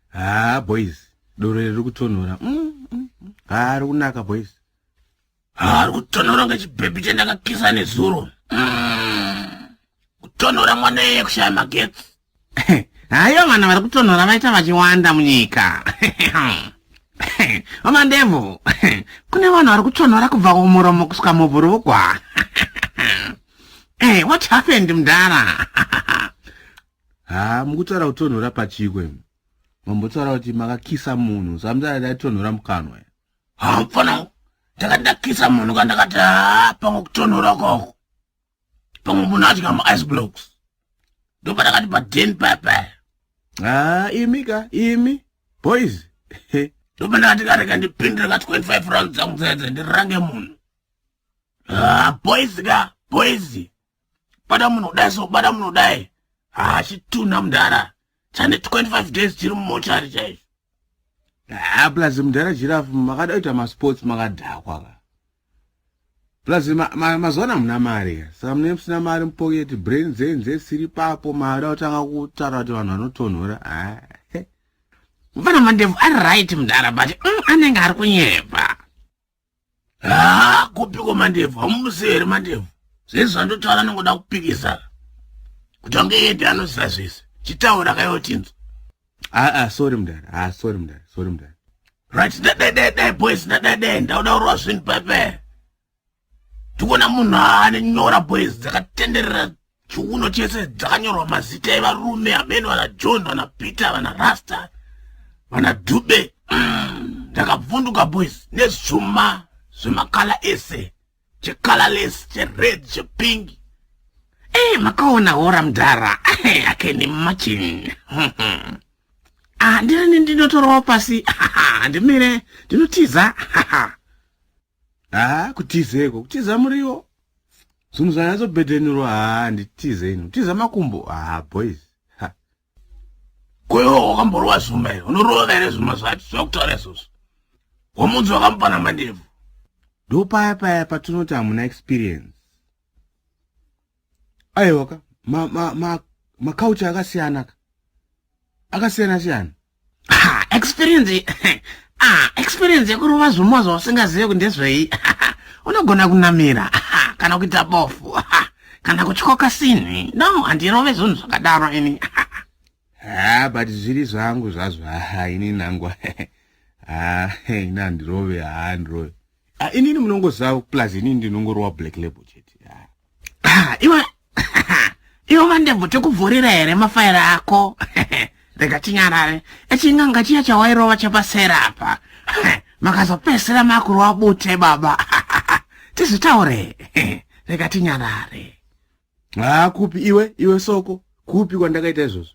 haa boys doro riri kutonhora mm, mm, mm. haa ri kunaka boys haa ri kutonhora kunge chibhebhi chendakakisa nezuro kutonhora mwana iye kushaya magetsi haiyo vanhu vari kutonhora vaita vachiwanda munyika vamandevu kune vanhu vari kutonhora kubva kumuromo kusvika mubhurugwa what happened mdara haa mukutaura kutonhora pachiko imi mambotaura kuti makakisa munhu samtara daitonhora mukanwa haa mfana ndakati ndakisa munhu kandakati haa pamwe kutonhora koko pamwe munhu adya maice blocks ndopadakati paden pepe haa imi ka imi boys ndopandakati kareka ndipindire ka 25 round dzangu dzedze ndirange munhu haa boys ka boys bada munhu kudai so bada munhu kudai hachitunha ah, mudhara chane 25 days chiri mumochari chaizvo haa ah, plus mudhara jirafu makada kuita masports makadhakwa ka plus mazuva ana hamuna mari ka saka mune musina mari mupoketi brain dzenyu dzesiri papo maada kutanga kutaura kuti vanhu vanotonhora haa ah. vana mandevu ari right mudhara but mm, anenge ari kunyepa haa kupiko mandebvu hamumusei here mandebvu zvese zvandotaura anongoda kupikisa kuti ange yede anoziva zvese chitaura kayotinzwa aa ah, ah, sorry mudhara aa ah, sorry mudhara sorry mudhara right dadadadai boys dadadai ndauda urwa zvinhu pepe tikona munhu aane nyora boys dzakatenderera chiuno chese dzanyorwa mazita evarume amene vana john vana peter vana rasta vana dube mm, ndakavhunduka mm, boys nezvuma zvemakala ese checolorless chered chepink ey eh, makaona hora mdhara eh, akeni machin ah, ndirini ndinotorawo pasi handimire ndinotiza haa kutizeko kutiza muriwo zvinhu zvanyatsopedhenurwa haa nditize ini kutiza makumbo haa boys koiwo wakamborova zvuma here unorova here zvuma zvacho zvakutaura izvozvo wamunzi wakamupana mandebvu ndopaya paya patinoti hamuna experience aiwa ka makauchi akasiyana ka akasiyana siyana ah, experience ah, experience yekurova zvuma zvausingazive kuti ndezvei unogona kunamira kana kuita bofu kana kutyoka sinhi no handirove zvinhu zvakadaro ini ha but zviri zvangu zvazvo ha ini nangu ha ini handirove ha handirove Ah, inini munongoziva plus inini ndinongorowa black label chete ah, iwe iwe mandebvu tikuvhurira here mafaira ako rega tinyarare echin'anga chiya chawairova chapasera apa makazopesera makurova bute baba tizvitaure rega tinyarare haa ah, kupi iwe iwe soko kupi kwandakaita izvozvo